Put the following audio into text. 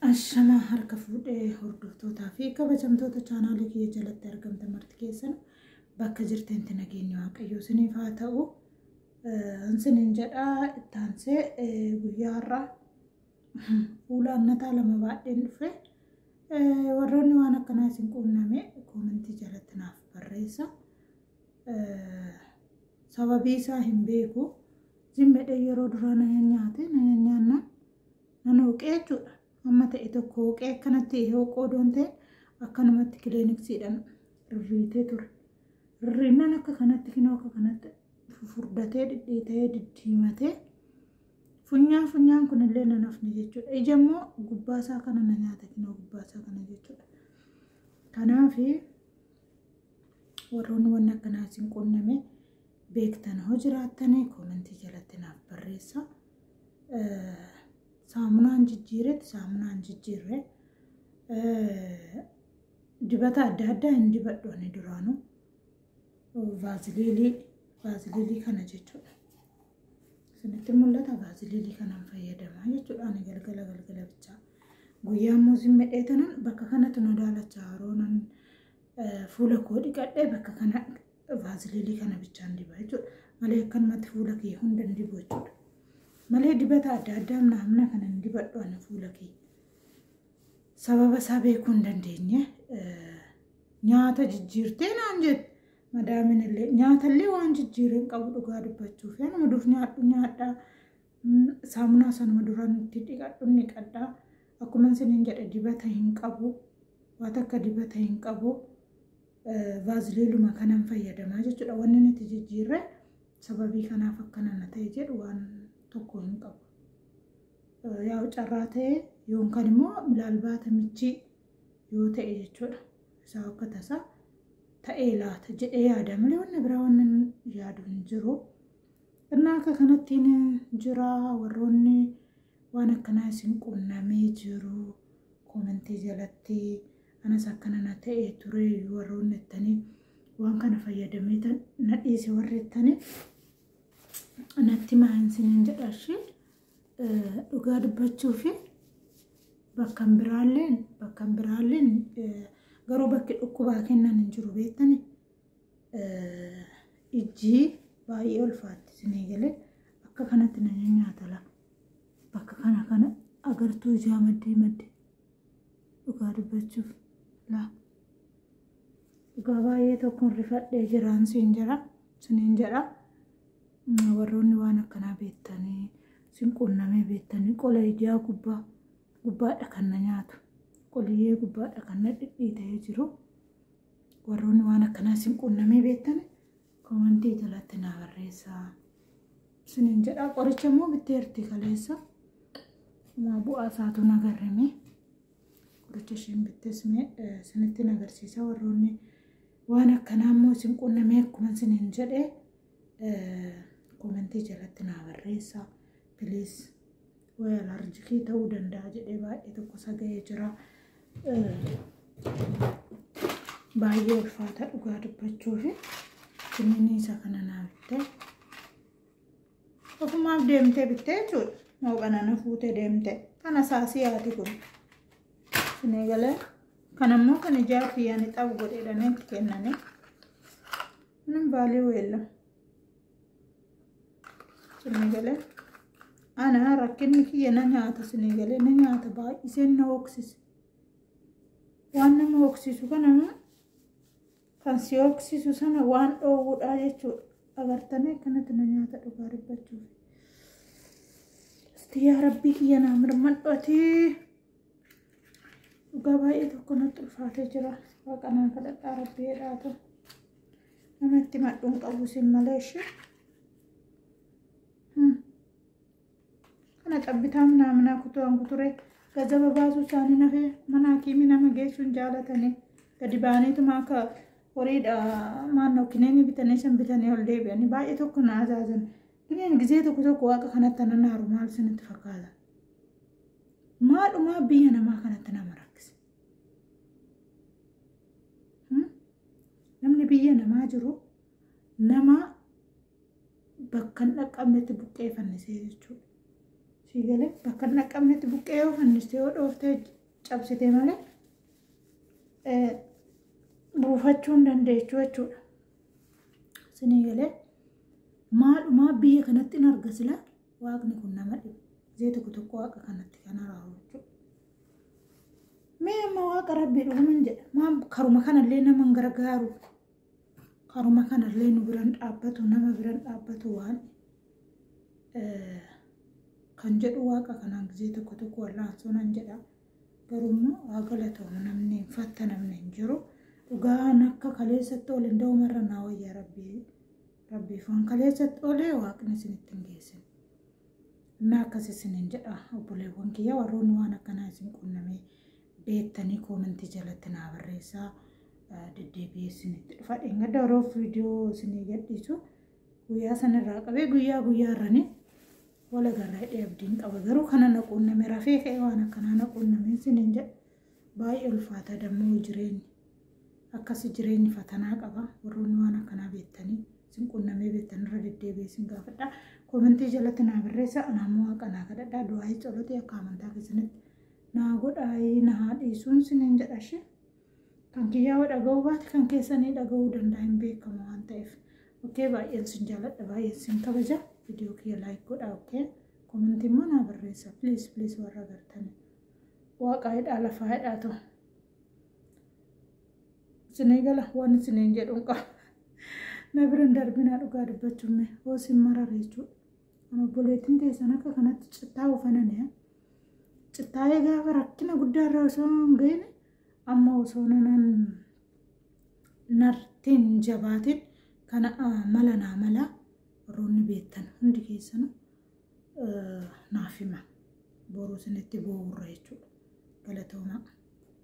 Ashamaa harka fuudhee hordoftootaa fi kabajamtoota chaanaalii kiyya jalatti argamtan marti keessan bakka jirtanitti nageenyi waaqayyoo isiniif haa ta'u. Isiniin jedhaa ittaansee guyyaa har'aa fuula annataa lama baadheen dhufe. Warroonni waan akkanaa isin quunname koomentii jalatti naaf barreessa. Sababii isaa hin beeku. Zimmeedhaan yeroo duraa na nyaate na nyaannaan. Nan hooqee jechuudha. Amma ta'e tokko hooqee akkanatti hooquu odoon ta'e akkanumatti kiliiniksiidhaan rirriitee ture. Rirriinnaan akka kanatti kinoo akka kanatti fufurdatee dhidhiitee diddiimatee funyaan funyaan kunillee nan hafne jechuudha. Ija immoo gubbaasaa kana na nyaata kinoo gubbaasaa kana jechuudha. Kanaaf warroonni wanni akkanaa isin quunname beektan hoo jiraattanii koomentii jalatti naaf barreessaa. saamunaan jijjiiretti saamunaan jijjiirre dibata adda addaa hin dibadhu ani duraanuu vaaziliilii vaaziliilii kana jechuudha. Isinitti mul'ata vaaziliilii kanaan fayyadamaa jechuudha ani galgala galgala bichaa. Guyyaa immoo simmedhee tanan bakka kanatti nu daalacha yeroo nan fuula koo dhiqadhee bakka kana vaaziliinii kana bichaan diba jechuudha. Malee akkanumatti fuula kee hunda hin dibu jechuudha. Malee dibata adda addaa amna amna kana hin dibadhu ani fuula kee. Sababa isaa beekuu hin dandeenye nyaata jijjiirtee naan jette. Madaamin illee nyaata illee waan jijjiiree hin qabu dhugaa dubbachuuf anuma dur nyaadhu nyaadhaa. Saamunaa sanuma duraan itti dhiqadhu dhiqadhaa. Akkuma isiniin jedhe dibata hin qabu. Waan akka dibata hin qabu. vaaziliiluma kanan fayyadamaa jechuudha. Wanni nuti jijjiirre sababii kanaaf akkana na ta'e jedhu waan tokko hin qabu. Yaa'u carraa ta'e yookaan immoo milaalbaata michii yoo ta'e jechuudha. Isaa akka tasaa ta'ee laata jedhee yaada malee wanna biraa wanna yaadu hin jiru. Innaa akka kanattiin jira warroonni waan akkanaa isin qunnamee jiru koomentii jalatti. anas akkana na ta'e ture warroonni jettanii waan kana fayyadamee tan na dhiise warri jettanii natti maayinsiniin jedha ishee dhugaa dubbachuu fi bakkan biraalleen bakkan biraalleen garuu bakki dhukkubaa kennan hin jiru beektani ijji baay'ee ulfaatti isinii galee akka kanatti na nyaata lafa bakka kana kana agartuu ijaa maddee maddee Dhugaa dubbachuuf laa. Dhugaa baay'ee tokkoon rifadhee jiraan siin jira. Siniin jedha. Mm, Warroonni waan akkanaa beektanii sin quunnamee beektanii qola ijaa gubbaa gubbaadha kan na nyaatu. Qoliyyee gubbaadha kan na dhidhiitee jiru. Warroonni waan akkanaa sin quunnamee beektanii Komantii jalatti naa barreessaa. Isinin jedhaa qoricha immoo bitteerti kaleessa. Maa bu'aa isaatu nagarrime. Qoricha isheen bittes mee isinitti nagarsiisa warroonni waan akkanaa immoo isin qunnamee akkuma isinin jedhee komantii jalatti naa barreessaa. Please. Way alarjikii ta'uu danda'a jedhee baay'ee tokko saga'ee jira. Baay'ee ulfaata dhugaa dubbachuuf kunniin isa kana naa bittee. Ofumaaf deemtee bittee jechuudha. Mooqana na fuutee deemtee. Kana saasii haati kun. Sinee galee. Kan ammoo kan ijaarti yaani xabu godheedhaan itti kennanii. Kunin baalii weella. Sinii galee. Ana rakkinni kiyya na nyaata sinii galee na nyaata baay'iseen na hooksise. Waan nama hooksisu kana immoo kan si hooksisu sana waan dhoowwudhaa jechuudha. Agartanii akkanatti na nyaata dhugaa dubbachuuf. Yaa rabbii kiyya naa mirmadhu atii. Dhugaa baay'ee tokko natti ulfaatee jira. Waaqa naa kadhadhaa rabbii jedhaatu. Nama itti madhuun qabu isin malee ishee. Kana cabbitaa minaa minaa kutuwaan kuturee gazaba baasuu isaanii nafee mana hakiimii nama geessuun jaalatanii gadi baaniituma akka horiidha maannoo kineenii bitanii san bitanii ol deebi'anii baay'ee tokko na azaazan. Kineen gizee tokko tokko waaqa kanatti anan haaru maal isinitti fakkaata? Maalumaa biyya namaa kanatti nama rakkisa. Hmm? Namni biyya namaa jiru nama bakka hin dhaqqabnetti buqqee fannisee jechuudha. Sii galee bakka hin dhaqqabnetti buqqee yoo fanniste yoo dhooftee cabsite malee eh, buufachuu hin dandeechu jechuudha. Sinii galee maalumaa biyya kanatti hin arga silaa Waaqni kun nama dhiba. Zee tokko tokko waaqa kanatti kan araaru jechuudha. Mee amma waaqa rabbii dhuguman jedha. Maam karuma kanallee nama hin gargaaru. Karuma kanallee nu biran dhaabbatu nama biran dhaabbatu waan eh, kan jedhu waaqa kanaan gisee tokko tokko wallaansoo nan jedha. Garuu immoo haa galatoomu namni hin fatta namni hin jiru. Dhugaan akka kaleessatti ol hin da'umarra naa wayyaa rabbii Rabbiif waan kaleessatti olee waaqni isinitti hin geessin. Innaa akkas isiniin jedha obboleewwan kiyya warroonni waan akkanaa isin qunnamee beektanii koomentii jalatti naa barreessaa eh, deddeebi'ee isinitti dhufa. Dheengadda yeroo viidiyoo isinii gadhiisu guyyaa sanirraa qabee guyyaa guyyaa irranii wal agarra hidhee abdiin qaba garuu kana na quunname rafee ka'ee waan akkanaa na quunname isiniin jedha. Baay'ee ulfaata dammoo jireenyi. Akkasi jireenyi fatanaa qaba. Warroonni waan akkanaa beektanii sin qunnamee beektan irra deddeebi'ee sin gaafadha. Koomentii jalatti naa barreessa. Anaa immoo waaqa naa kadhadha. Du'aayii colotii akka amantaa keessanitti naa godhaayii na haa dhiisuun siniin jedha ishee. Kan kiyyaa yoo dhaga'uu baate kan keessanii dhaga'uu danda'a hin beekamu waan ta'eef. Okkee baay'een sin jaaladha baay'een sin kabaja. Viidiyoo kiyya laayik godhaa okkee. Koomentii immoo naa barreessa. Please please warra agartanii. Waaqaa hidhaa lafaa hidhaa ta'u. Isinii gala waan isiniin jedhu hin qabu. Na bira hin darbinaa dhugaa dubbachuun mee hoo isin marare jechuudha. Kan obboleettiin teessan akka kanatti cittaa ufananii cittaa'ee gaafa rakkina guddaa irra osoo hin ga'ine amma osoo nanan nartiin jabaatiin kana mala naa mala warroonni beektan hundi keessanuu naaf hima. Boruu isinitti bu'uurra jechuudha. Galatoomaa.